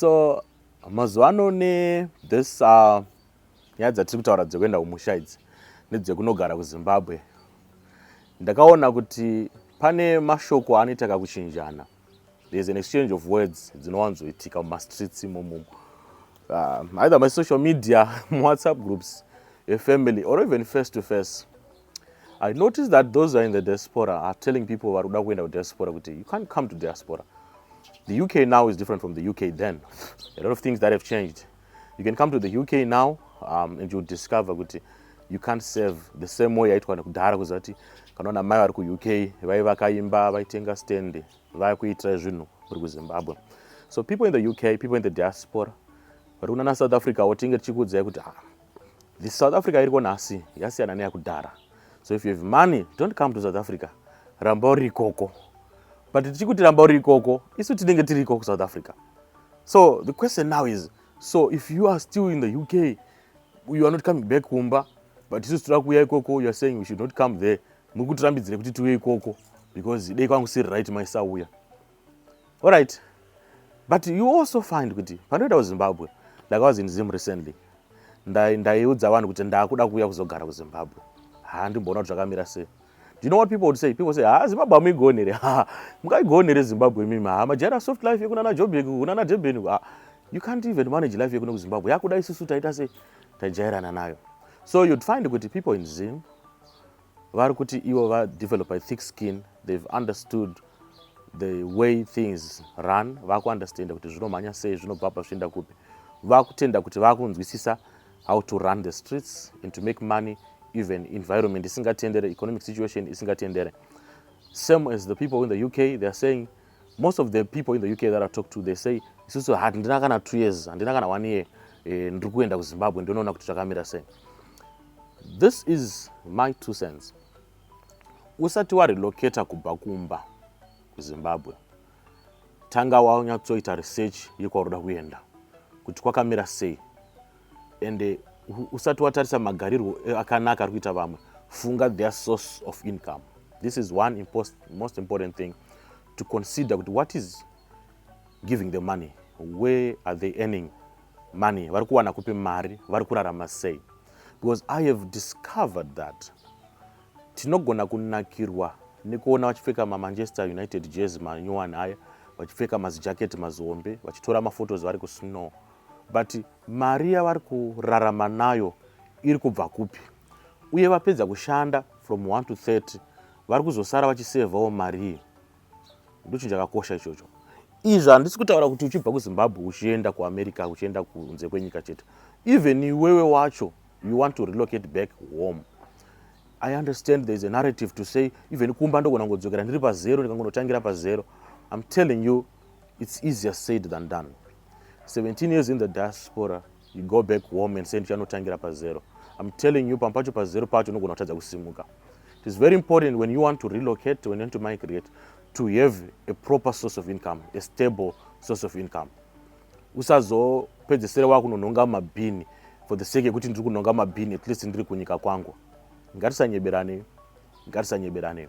So mazuva ano ne this uh, nyaya dzatiri kutaura dzekuenda kumusha idzi nedzekunogara kuzimbabwe ndakaona kuti pane mashoko anoita kakuchinjana there's an exchange of words dzinowanzoitika mumastreets imomomo uh, either masocial media muwhatsapp groups efamily or even face to face I notice that those are in the diaspora are telling people vari kuda kuenda kudiaspora kuti you can't come to diaspora. The UK now is different from the UK then. A lot of things that have changed. You can come to the UK now um, and you discover kuti you can't serve the same way yaitwa nekudhara kuziva kuti kana ona mai vari kuuk vai vakaimba vaitenga stand vaya kuitira zvinhu kuri kuzimbabwe so people in the uk people in the diaspora vari kunana south africa wo tinge tichikuudzai kuti ah, The South Africa iriko nhasi yasiyana neyakudhara. So if you have money, don't come to South Africa. Ramba uri ikoko. But tichikuti ramba uri ikoko, isu tinenge tiri ikoko South Africa. So the question now is, so if you are still in the UK, you are not coming back kumba, but isu tira kuya ikoko, you are saying we should not come there. Mukutirambidzire kuti tiwe ikoko because dei kwangu siri right maisauya. Alright. But you also find kuti panoita kuZimbabwe ndakawas in Zim recently. Ndaiudza vanhu kuti ndakuda kuuya kuzogara kuZimbabwe. Ha ndimboona kuti zvakamira sei. Do you know what people would say? People say, "Ah, Zimbabwe amuigone here? Ha, mukaigone here Zimbabwe mimi? Ha, majara soft life yekuna na Joburg, kuna na Durban. Ha, you can't even manage life yekuno kuZimbabwe. Yakuda isusu taita sei? Tajairana nayo. So you'd find kuti people in Zim vari kuti ivo va develop a thick skin they've understood the way things run vakuunderstanda kuti zvinomhanya sei zvinobva pa zvichienda kupi vakutenda kuti vakunzwisisa how to run the streets and to make money even environment isingatendere economic situation isingatendere same as the people in the uk they are saying most of the people in the uk that i talk to they say isusu handina kana two years handina kana one year eh, ndiri kuenda kuzimbabwe ndonoona kuti zvakamira sei This is my two cents. Usati warelocata kubva kumba kuZimbabwe, tanga wanyatsoita research yekwauri kuda kuenda kuti kwakamira sei ende usati watarisa magarirwo akanaka ari kuita vamwe funga their source of income this is one most important thing to consider kuti what is giving the money where are they earning money vari kuwana kupi mari vari kurarama sei because i have discovered that tinogona kunakirwa nekuona vachipfeka mamanchester united jezi manyowani aya vachipfeka mazijaketi mazihombe vachitora maphotos vari kusnow but mari yavari kurarama nayo iri kubva kupi uye vapedza kushanda from 1 to 30 vari kuzosara vachisevhawo mari iyi ndochinhu chakakosha ichocho izvi handisi kutaura kuti uchibva kuzimbabwe uchienda kuamerica uchienda kunze kwenyika chete even iwewe wacho you want to relocate back home i understand there is a narrative to say even kumba ndogona kungodzokera ndiri pazero ndikangonotangira pazero im telling you its easier said than done 17 years in the diaspora you go back home and say ndichanotangira pazero i'm telling you pamwe pacho pazero pacho unogona kutadza kusimuka it is very important when you want to relocate when you want to migrate to have a proper source of income a stable source of income usazopedzesere wakunonhonga mabhini for the sake yekuti ndiri kunhonga mabhini at least ndiri kunyika kwangu ngatisanyeberane ngatisanyeberane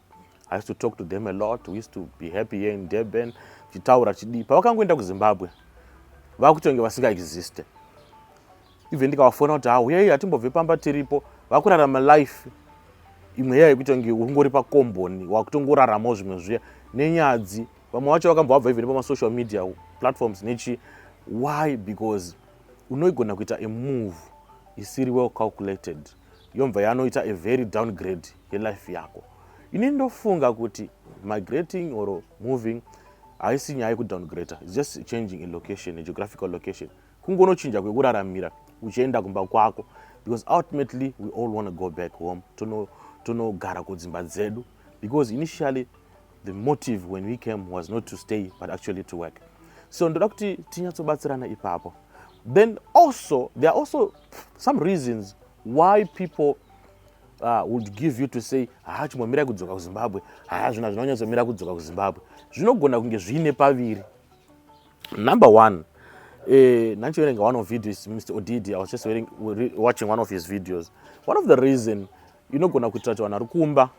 I used to talk to them a lot. We used to be happy here in Durban. Tichitaura chidii. Pavakangoenda kuZimbabwe, vakutonge vasinga existe. Even ndikavafona kuti hawo yei hatimbobve pamba tiripo, vakurarama life imwe iya yekutonge ungori pakomboni wakutongoraramawo zvimwe zviya nenyadzi. Vamwe vacho vakambovabva even pama social media platforms nechi why because unoigona kuita a move isiri well calculated yomva yanoita a very downgrade yelife yako ini ndofunga kuti migrating or moving haisi nyaya yekudowngrader its just changing a location a geographical location kungonochinja kwekuraramira uchienda kumba kwako because ultimately we all want to go back home tonogara tono kudzimba dzedu because initially the motive when we came was not to stay but actually to work so ndoda kuti tinyatsobatsirana ipapo then also there are also some reasons why people uh, would give you to say haa chimbomirai kudzoka kuzimbabwe haa zvina zvinonyatsomira kudzoka kuzimbabwe zvinogona kunge zviine paviri number one eh, nanchiverenga one of videos mr odidi i was just wearing, watching one of his videos one of the reason inogona kuitira kuti vanhu vari kumba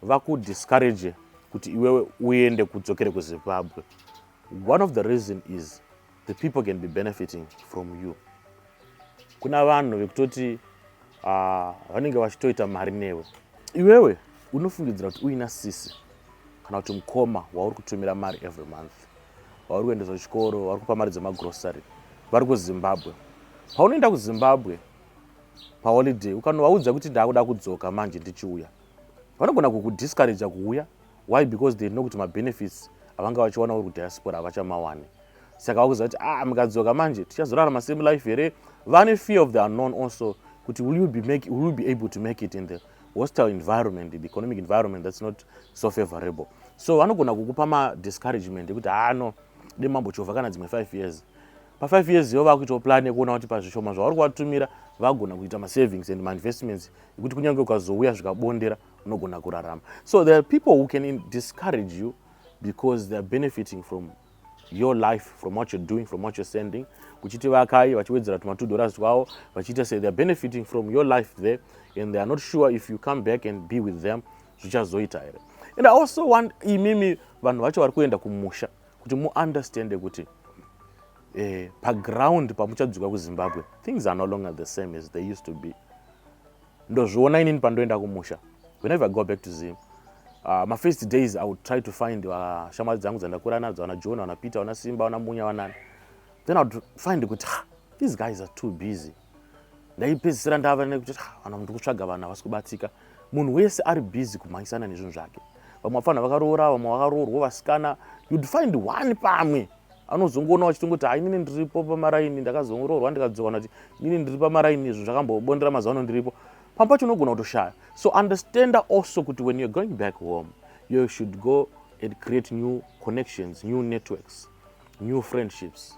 vakudiscourage kuti iwewe uende kudzokere kuzimbabwe one of the reason is the people can be benefiting from you kuna vanhu vekutoti ah, vanenge vachitoita mari newe iwewe unofungidzira kuti uina sisi kana kuti mukoma wauri kutumira mari every month wauri kuendesa kuchikoro wauri kupa mari dzemagrocery vari kuzimbabwe paunoenda kuzimbabwe paholiday ukanovaudza kuti ndaakuda kudzoka manje ndichiuya vanogona kukudiscouraja kuuya why because they know kuti mabenefits avanga vachiwana uri kudiaspora havachamawani saka vakuziva kuti ah mukadzoka manje tichazorarama same life here vane fear of the unknown also kuti will you be, make, will you be able to make it in the hostile environment the economic environment that's not so favorable so vanogona kukupa madiscouragement ekuti haa ah, no de mambo chova kana dzimwe five years pafive years iyo vakuitawo plan yekuona kuti pazvishoma zvavari kuvatumira vagona kuita masavings and mainvestments yekuti kunyange ukazouya zvikabondera unogona kurarama so there are people who can discourage you because they are benefiting from your life from what you're doing from what you're sending kuchiti vakai vachiwedzera tuma two dollars twavo vachiita say they're benefiting from your life there and they are not sure if you come back and be with them zvichazoita here and i also want imimi vanhu vacho vari kuenda kumusha kuti muunderstande kuti eh, paground pamuchadzuka kuzimbabwe things are no longer the same as they used to be ndozviona inini pandoenda kumusha whenever i go back to zim uh, my first days i would try to find ah, shamwari uh, dzangu dzandakura nadzo ana john ana peter ana simba ana munya vanani then i would find kuti these guys are too busy ndaipedzisira ndava nekuti ah, vana mundi kutsvaga vanhu havasi kubatsika munhu wese ari busy kumhanyisana nezvinhu zvake vamwe vafana vakaroora vamwe vakaroorwa vasikana you'd find one pamwe anozongoona vachitongoti ha inini ndiripo pamaraini ndakazongoroorwa ndikadzowana kuti inini ndiri pamaraini izvo zvakambobondera mazuva ano ndiripo pamwe pacho unogona kutoshaya so understanda also kuti when youare going back home you should go and create new connections new networks new friendships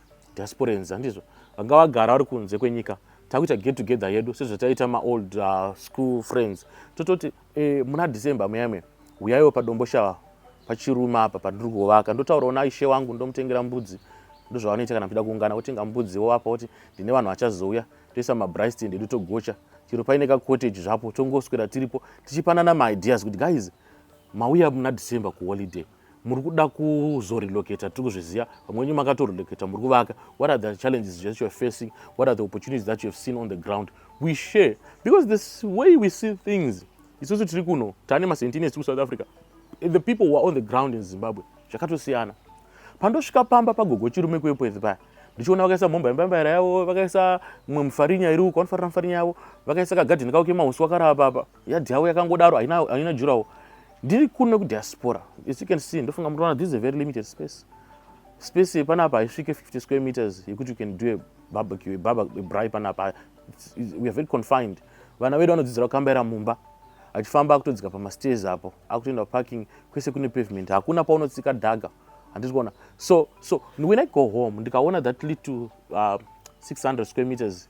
diasporans handizvo vanga vagara vari kunze kwenyika takuita get together yedu sezvataiita maold uh, school friends tototi eh, muna december muyamwe huyaiwo padomboshava pachirume apa pandiri kuvaka ndotaurawo naishe wangu ndomutengera mbudzi ndozvavanoita kana muchida kuungana wotenga mbudzi wovapa kuti ndine vanhu vachazouya toisa mabristend edu togocha chero paine kacottage zvapo tongoswera tiripo tichipanana maideas kuti guys mauya muna december kuholiday muri kuda kuzorelocata tiri kuzviziva vamwe venyu makatorelocata muri kuvaka what are the challenges that youare facing what are the opportunities that youhave seen on the ground we share because this way we see things isusu tiri kuno tane masentines tiri kusouth africa the people who are on the ground in zimbabwe zvakatosiyana pandosvika pamba pagogo chirume kuepwezi paya ndichiona vakaisa mhomba yembambaira yavo vakaisa mumwe mufarinya iri uko vanofarira mufarinya yavo vakaisa kagadhini kavo kemahusi wakarava papa yadhi yavo yakangodaro haina haina jurawo ndiri kuno nekudiaspora as you can see ndofunga mutoona this is a very limited space space yepanapa haisvike 50 square meters yekuti you can do a barbecue a barber a bry panapa we are very confined vana vedu vanodzidzira kukambaira mumba achifamba akutodzika pamastairs apo akutoenda parking kwese kune pavement hakuna paunotsika dhaga handisi kuona so so when i go home ndikaona that little uh, 600 square meters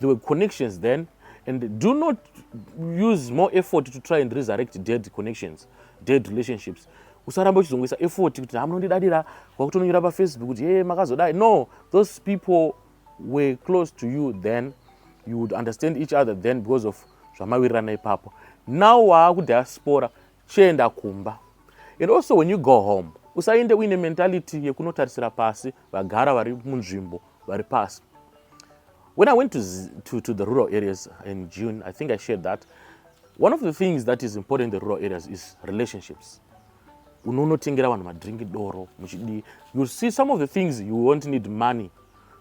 There were connections then and do not use more effort to try and resurrect dead connections, dead relationships. usaramba uchizongoisa effort kuti hamunondidadira kwakutononyora pafacebook kuti hee makazodai no those people were close to you then you would understand each other then because of zvamawirirana ipapo now waakudiaspora Chienda kumba and also when you go home usaende uine mentality yekunotarisira pasi vagara vari munzvimbo vari pasi. When I went to, to, to the rural areas in June, I think I shared that one of the things that is important in the rural areas is relationships. unonotengera vanhu madrink doro muchidii you see some of the things you won't need money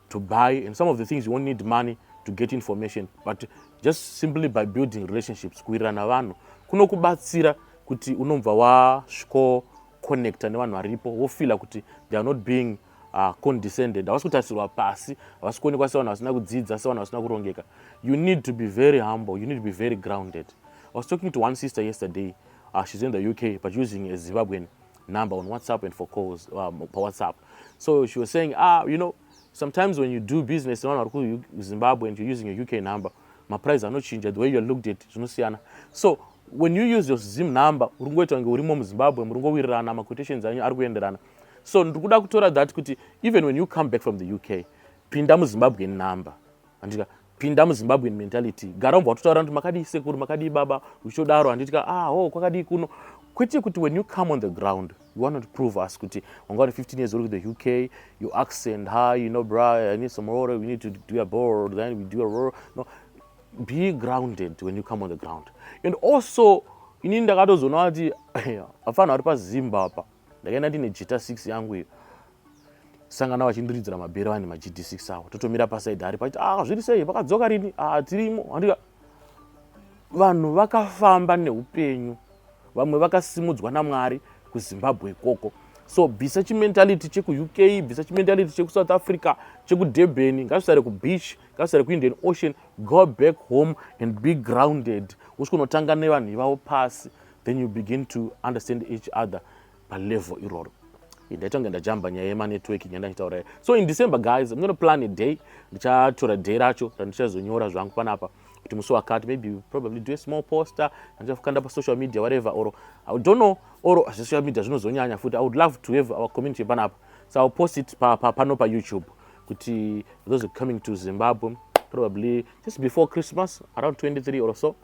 to buy and some of the things you won't need money to get information but just simply by building relationships kuwirirana vanhu kunokubatsira kuti unobva wasviko connecta nevanhu varipo wofeela kuti they are not being uh, condescended havasi kutarisirwa pasi havasi kuonekwa sevanhu vasina kudzidza sevanhu vasina kurongeka you need to be very humble you need to be very grounded i was talking to one sister yesterday uh, she's in the uk but using a zimbabwean number on WhatsApp and for calls um, per WhatsApp. So she was saying, ah, you know, sometimes when you do business in Zimbabwe and you're using your UK number, my price are not changed. The way you're looked at, you know, Siana. So when you use your Zim number, urungoita kunge urimo muZimbabwe, murungowirirana, maquotations anyu ari kuenderana. So ndikuda kutora that kuti even when you come back from the UK, pinda muZimbabwean number. handika pinda muzimbabwean mentality gara umbwa watotaura kuti makadii sekuru makadii baba uchitodaro handitika ah ho oh, kwakadii kuno kwete kuti when you come on the ground you want to prove us kuti wanga wari 15 years old the uk you accent hi you know bra i need some water we need to do a bor then we do a roll no be grounded when you come on the ground and also inini ndakatozoona kuti afana ari pazimba apa ndakaenda ndine jita 6 yangu iyo sangana vachindiridzira mabhero vani magd 6 awo totomira pasaidi ari paiti ah zviri sei vakadzoka rini ah tirimo handika vanhu vakafamba neupenyu vamwe vakasimudzwa namwari kuzimbabwe ikoko so bvisa chimentality chekuuk bvisa chimentality chekusouth africa chekudurban ngazvisare kubeach ngazvisare kuindian ocean go back home and be grounded usikunotanga nevanhu ivavo pasi then you begin to understand each other palevel iroro ndaitange ndajamba nyaya yemanetworking yandachitaura so in december guys i'm gonna plan a day ndichatora day racho randichazonyora zvangu panapa kuti musi wakati maybe probably do a small poster andichafukanda pasocial media whatever or i don't know or zvesocial media zvinozonyanya futi i would love to have our community panapa so iwill post it pano pa, pa, pa youtube kuti those coming to zimbabwe probably just before christmas around 23 or so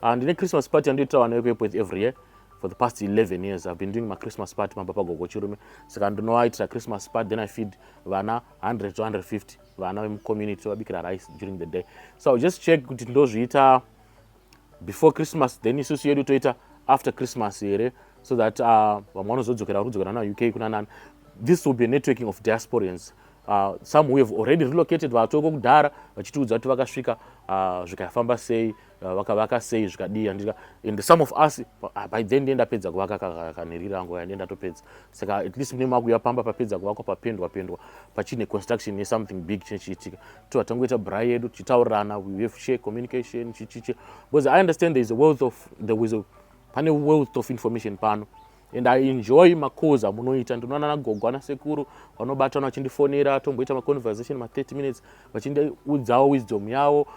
And in a Christmas party, and you tell an with every year for the past 11 years. I've been doing my Christmas party, my papa go go chirume. So I know it's a Christmas party, then I feed vana 100 to 150 vana in community so I bikira rice during the day. So I'll just check kuti ndozviita before Christmas, then isusu yedu toita after Christmas here so that uh, vamwe vanozodzokera vari kudzokera nayo UK kuna nani. This will be a networking of diasporians Uh, some who have already relocated vatoko kudhara vachitiudza kuti vakasvika uh, zvikafamba sei uh, vakavaka sei zvikadii andika and some of us uh, by then ndiye ndapedza kuvaka kanhiri rangu kaya ndiye ndatopedza saka at least mune makuya pamba papedza kuvakwa papendwa pendwa pachine construction yesomething big chine chiitika to vatangoita bra yedu tichitaurirana we have share communication chichiche because i understand there is a wealth of there is a pane wealth of information pano and i enjoy macalls amunoita ndinoona nagogo ana sekuru vanobatana vachindifonera tomboita maconversation ma30 minutes vachindiudzawo wisdom yavo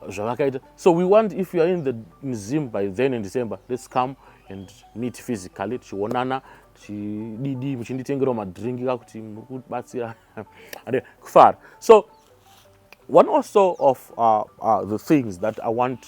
zvavakaita so we want if youare in the museum by then in december let's come and meet physically tichionana tichididi muchinditengerawo madringi kakuti muri kubatsira kufara so one also of uh, uh, the things that i want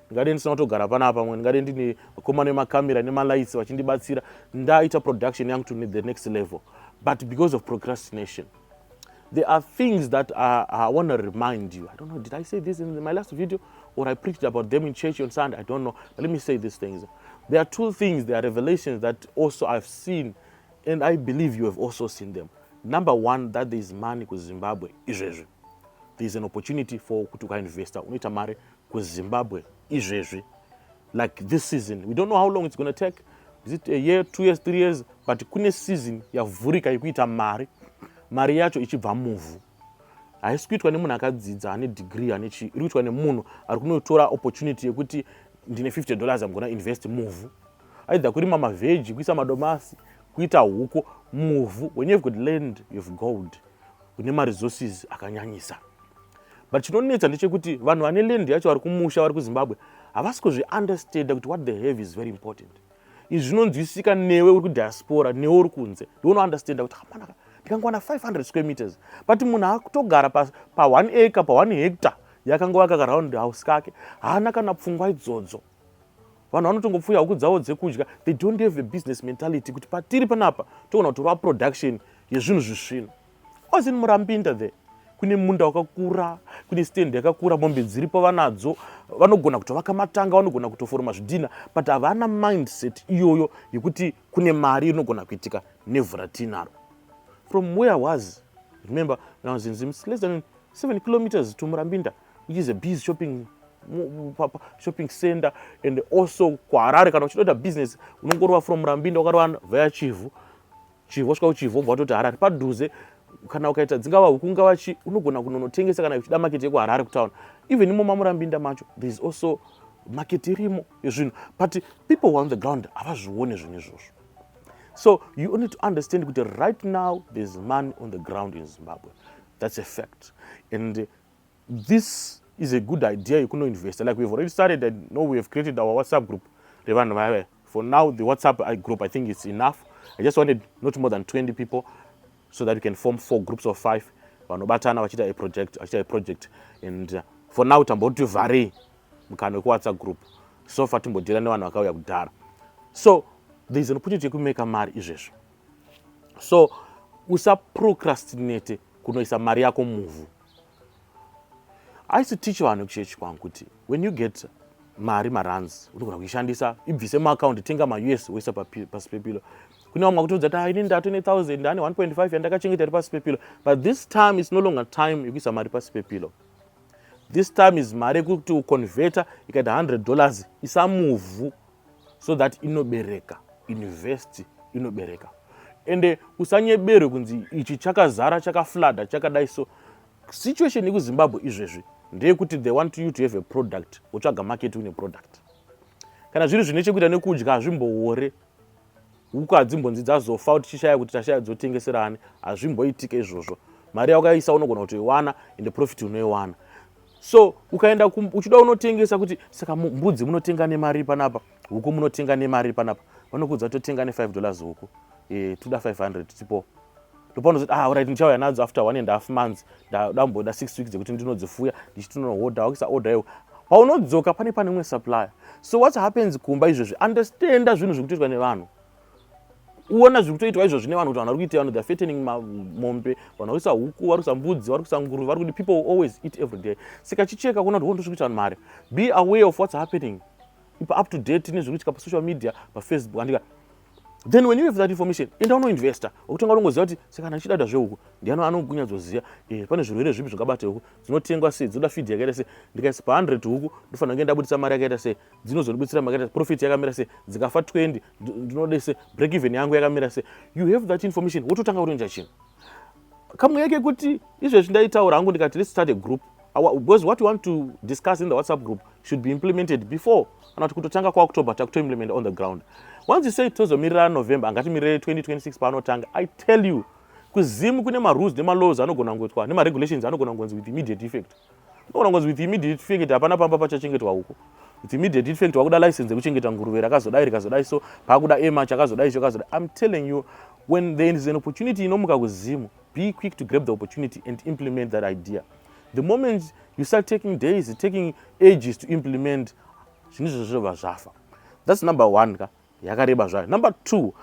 ndingadei ndisina kutogara panapa pamwe ndingadei ndine vakomana vemakamera nemalights vachindibatsira ndaita production yangu to the next level but because of procrastination there are things that I, I want to remind you. I don't know, did I say this in my last video or I preached about them in church on Sunday? I don't know. But let me say these things. There are two things, there are revelations that also I've seen, and I believe you have also seen them. Number one, that there is money ku Zimbabwe izvezvi. There is an opportunity for kuti ukainvesta unoita mari kuzimbabwe izvezvi like this season we don't know how long it's gonna take is it a year two years three years but kune season yavhurika yekuita mari mari yacho ichibva muvhu haisi kuitwa nemunhu akadzidza ane degree ane chii iri kuitwa nemunhu ari kunotora opportunity yekuti ndine 50 dollars amgona invest muvhu aidha kurima mavheji kuisa madomasi kuita huku muvhu when you've got land you've gold kune maresources akanyanyisa but chinonetsa ndechekuti vanhu vane land yacho vari kumusha vari kuzimbabwe havasi kuzviunderstanda kuti what they have is very important izvi zvinonzwisika newe uri kudiaspora newe uri kunze ndiunounderstanda kuti hamanaka ndikangowana 500 square meters but munhu akutogara pa1 pa acre pa1 hectare yakangova kakaraund house kake haana kana pfungwa idzodzo vanhu vanotongopfuya huku dzavo dzekudya they don't have a business mentality kuti patiri panapa togona kutorova production yezvinhu zvisvino osin murambinda there kune munda wakakura kune stand yakakura mombe dziripo vanadzo vanogona kutovaka matanga vanogona kutoforoma zvidhina but havana mindset iyoyo yekuti kune mari inogona kuitika nevhu ratinaro from where was remember now zinzim less than seven kilometers to murambinda which is a biz shopping shopping center and also kuharare kana uchitoita business unongorova from rambinda ukarova vaya chivhu chivhu wasvika kuchivhu wobva watoti harare padhuze kana ukaita dzingava huku ngava chi unogona kunonotengesa kana uchida maketi yekuharare kutown even imomo murambinda macho there is also market irimo yezvinhu but people who are on the ground havazvione zvinhu izvozvo so you need to understand kuti right now thereis money on the ground in zimbabwe that's a fact and This is a good idea yekuno investa like we've already started and know we have created our WhatsApp group revanhu vaya for now the WhatsApp uh, group I think it's enough I just wanted not more than 20 people so that we can form four groups of five vanobatana vachiita a project vachiita a project and uh, for now tamboti vharei mukana wekuwhatsapp group so far timbodira nevanhu vakauya kudhara so there is an opportunity yekumeka mari izvezvo so usaprocrastinate kunoisa mari yako muvhu I used to teach vanhu kuchechi kwangu kuti when you get mari marands unogona kuishandisa ibvise muaccount tenga maus woisa pasi pepilo kune vamwe vakutoudza kuti ah, ini ndato ne 1000 ane 1.5 yandakachengeta iri pasi pepilo but this time is no longer time yekuisa mari pasi pepilo this time is mari yekuti uconveta ikaita 100 dollars isamuvhu so that inobereka invest inobereka ende usanyeberwe kunzi ichi chakazara chakaflada chakadai so situation yekuzimbabwe izvezvi ndeyekuti they want you to have a product wotsvaga market une product kana zviri zvine chekuita nekudya hazvimboore huku hadzimbonzi dzazofa kuti tichishaya kuti tashaya dzotengeserani hazvimboitike izvozvo mari yaukaisa unogona kutoiwana ende profit unoiwana so ukaenda uchida unotengesa kuti saka mbudzi munotenga nemari panapa huku munotenga nemari panapa vanokuudza totenga ne5 dollars huku e, eh, toda 500 tipo ndopanozoti ah right ndichauya nadzo after one and half months ndamboda six weeks dzekuti ndinodzifuya ndichitinohodha wakisa order iwo paunodzoka pane pane umwe supplier so what happens kumba izvozvi understanda zvinhu zviri kutoitwa nevanhu uona zviri kutoitwa izvozvi nevanhu kuti vanhu vari kuita vanhu theyare fattening mombe vanhu vakuisa huku vari kuisa mbudzi vari kuisa nguruve vari kuti people will always eat every day saka chicheka kuona kuti wondosviri kuita vanhu mari be aware of what's happening ipa up to date nezviri kuitika pasocial media pafacebook andika then when you have that information enda unoinvesta okutanga unongoziva kuti sekana ndichidada zveuku ndiano anokunyatsoziva eh, pane zvirwere zvipi zvingabate huku dzinotengwa sei dzinoda fidhi yakaita sei ndikaisa pa 100 huku ndofanira kunge ndabudisa mari yakaita sei dzinozondibudisira mari yakaita profit yakamira sei dzikafa 20 ndinode sei break even yangu yakamira sei you have that information wototanga urinja chinhu kamweya kekuti izvezvi ndaitaura hangu ndikati let's start a group because what you want to discuss in the whatsapp group should be implemented before kana kuti kutotanga kwaoctober takutoimplement on the ground once you say tozomirira november angatimirire 2026 paanotanga i tell you kuzim kune marules nemalaws anogona kungoitwa nemaregulations anogona kungonzi with immediate effect Unoona ngozi with immediate effect hapana pamba pachachengetwa huku. With immediate effect wakuda license yekuchengeta nguruve rakazodai rikazodai so pakuda ema chakazodai icho kazodai. I'm telling you when there is an opportunity inomuka kuzimu be quick to grab the opportunity and implement that idea. The moment you start taking days, taking ages to implement zvinhu izvozvo zvobva zvafa. That's number one ka. yakareba zvayo number two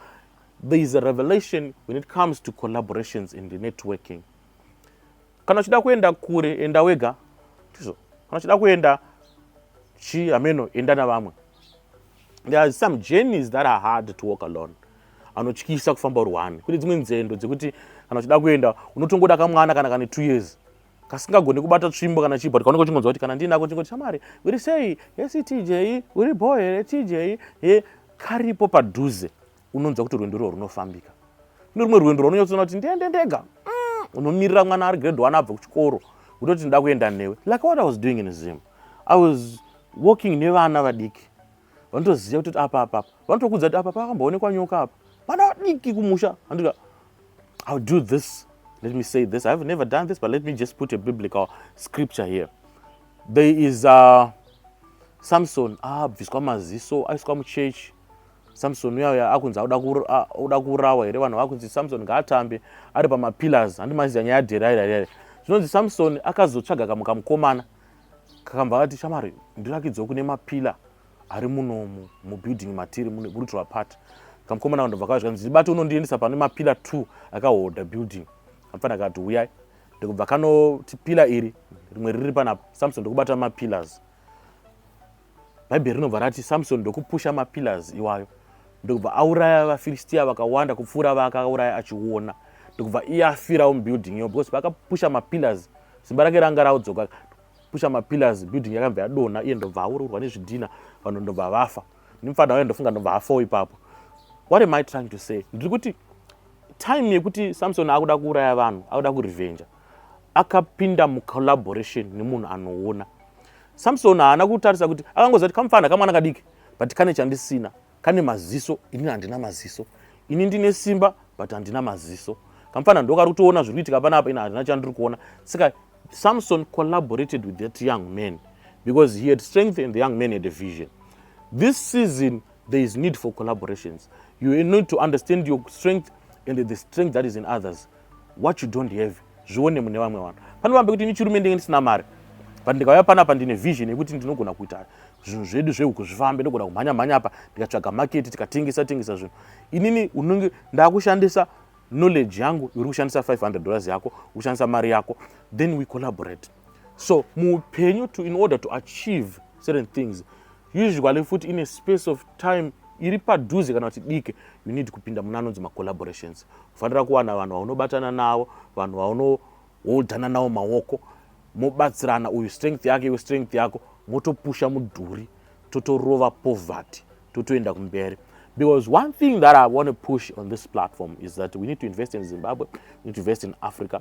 there is a revelation when it comes to collaborations and networking kana uchida kuenda kure enda wega ndizvo kana uchida kuenda chi hameno enda navamwe there are some journeys that are hard to walk alone anotyisa kufamba uri one kune dzimwe nzendo dzekuti kana uchida kuenda unotongoda kamwana kana kane two years kasingagoni kubata tsvimbo kana chii but kaunenge uchingonzwa kuti kana ndiinako chingoti shamwari uri sei hesi tj uri bho here tj he karipo padhuze unonzwa kuti rwendo irwo runofambika kune rumwe rwendo rwaunonyatsoona kuti ndiende ndega mm, unomirira mwana ari grade one abva kuchikoro kutoti ndinoda kuenda newe like what i was doing in zim i was walking nevana vadiki vanotoziva kuti apa apa apa vanotokudza kuti apa pakamboonekwa nyoka apa pana vadiki kumusha andika ill do this let me say this i have never done this but let me just put a biblical scripture here there is uh, samson abviswa ah, maziso aiswa muchechi samson uya uya akunzi auda kuurawa here vanhu vakunzi samson ngaatambe ari pamapillars handimaziva nyaya yaderairai zvinonzi samson akazotsvaga kamukamukomana kakambva kati shamari ndirakidzewo kune mapila ari munomu mubuilding matiri mune brutal apart kamukomana kandobva kazvika nzi bati unondiendesa pane mapila 2 akahodha building apfana kati uyai ndikubva kanoti pila iri rimwe riri pana samson ndikubata mapillars bhaibheri rinobva rati samsoni ndokupusha mapillars iwayo ndokubva auraya vafiristia vakawanda kupfuura vaakauraya achiona ndokubva iye afirawo mubuilding iyo because vakapusha mapillars simba rake ranga raudzoka pusha mapillars building yakabva yadonha iye ndobva aururwa nezvidhina vanhu ndobva vafa nemufana wayo ndofunga ndobva afawo ipapo what am i trying to say ndiri kuti time yekuti samson akuda kuuraya vanhu akuda kurevenja akapinda mucollaboration nemunhu anoona samsoni haana kutarisa kuti akangoziva kuti kamufana kamwana kadiki but kane chandisina kane maziso inini handina maziso ini ndine simba but handina maziso kamufana ndokari kutoona zviri kuitika pana apa ini handina chandiri kuona saka samson collaborated with that young man because he had strength and the young man had a vision this season there is need for collaborations you need to understand your strength and the strength that is in others what you don't have zvione mune vamwe vanhu pane vambe kuti ini chirume ndenge ndisina mari but ndikauya panapa ndine vision yekuti ndinogona kuita zvinhu zvedu zvehuku zvifambe ndogona kumhanya mhanya apa ndikatsvaga maketi tikatengesa tengesa zvinhu inini unenge ndakushandisa knowledge yangu uri kushandisa 500 dollars yako ukushandisa mari yako then we collaborate so muupenyu to in order to achieve certain things usually futi in a space of time iri padhuze kana kuti dike you need kupinda muna anonzi macollaborations ufanira kuwana vanhu vaunobatana navo vanhu vaunoholdana navo maoko mobatsirana uyu strength yake iwe strength yako motopusha mudhuri totorova poverty totoenda kumberi because one thing that i want to push on this platform is that we need to invest in zimbabwe we need to invest in africa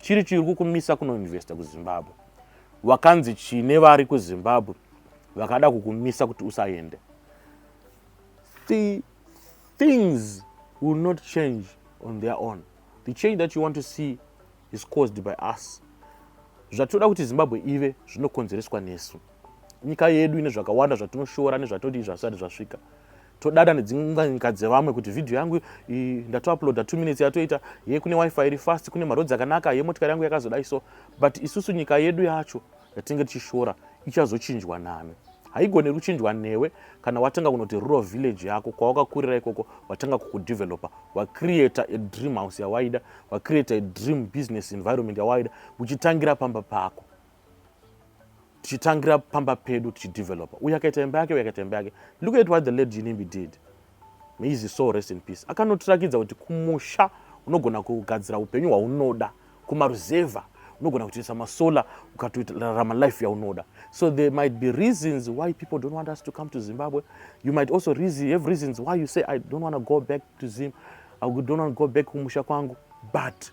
chiri chiri kukumisa kunoinvesta kuzimbabwe wakanzi chine vari kuzimbabwe vakada kukumisa kuti usaende the things will not change on their own the change that you want to see is caused by us zvatinoda kuti zimbabwe ive zvinokonzereswa nesu nyika yedu ine zvakawanda zvatinoshora nezvatodii zvasati zvasvika todada nedzimwe nyika dzevamwe kuti vhidhiyo yangu ndatouploada two minutes yatoita ye kune wifi iri fast kune marodzi akanaka ye motikari yangu yakazodai so but isusu nyika yedu yacho yatinenge tichishora ichazochinjwa nani haigone kuchinjwa newe kana watanga kunoti rural village yako kwawakakurira ikoko watanga kukudevelopa wacreata a dream house yawaida wacreata a dream business environment yawaida uchitangira pamba pako tichitangira pamba pedu tichidevelopa uye akaita imba yake uye akaita imba yake look at what the lady jinimbi did maizi so rest in peace akanotirakidza kuti kumusha unogona kugadzira upenyu hwaunoda kumaruzevha unogona kutoisa masolar ukatoitarama life yaunoda so there might be reasons why people don't want us to come to zimbabwe you might also reason, have reasons why you say i don't want to go back to zim i don't want to go back kumusha kwangu but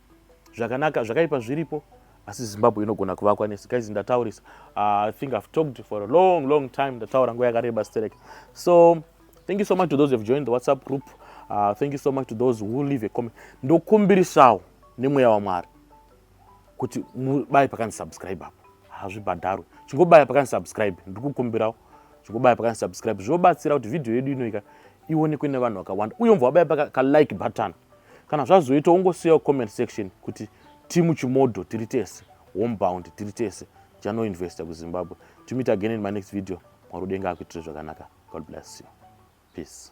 zvakanaka zvakaipa zviripo asi zimbabwe inogona kuvakwa nesi guys ndataurisa uh, i think i've talked for a long long time ndataura nguva yakareba sterek so thank you so much to those who've joined the whatsapp group uh, thank you so much to those who leave a comment ndokumbirisawo nemweya wamwari kuti mubaye pakanzi subscribe apo hazvibhadharwe chingobaya pakanzi subscribe ndiri kukumbirawo chingobaya pakanzi subscribe zvinobatsira kuti vhidhiyo yedu inoika ionekwe nevanhu vakawanda uye umva wabaya paka ka like button kana zvazoita ungosiyawo comment section kuti timu chimodho tiri tese homebound tiri tese jano investor kuzimbabwe to meet again in my next video mwari udenga akuitire zvakanaka god bless you peace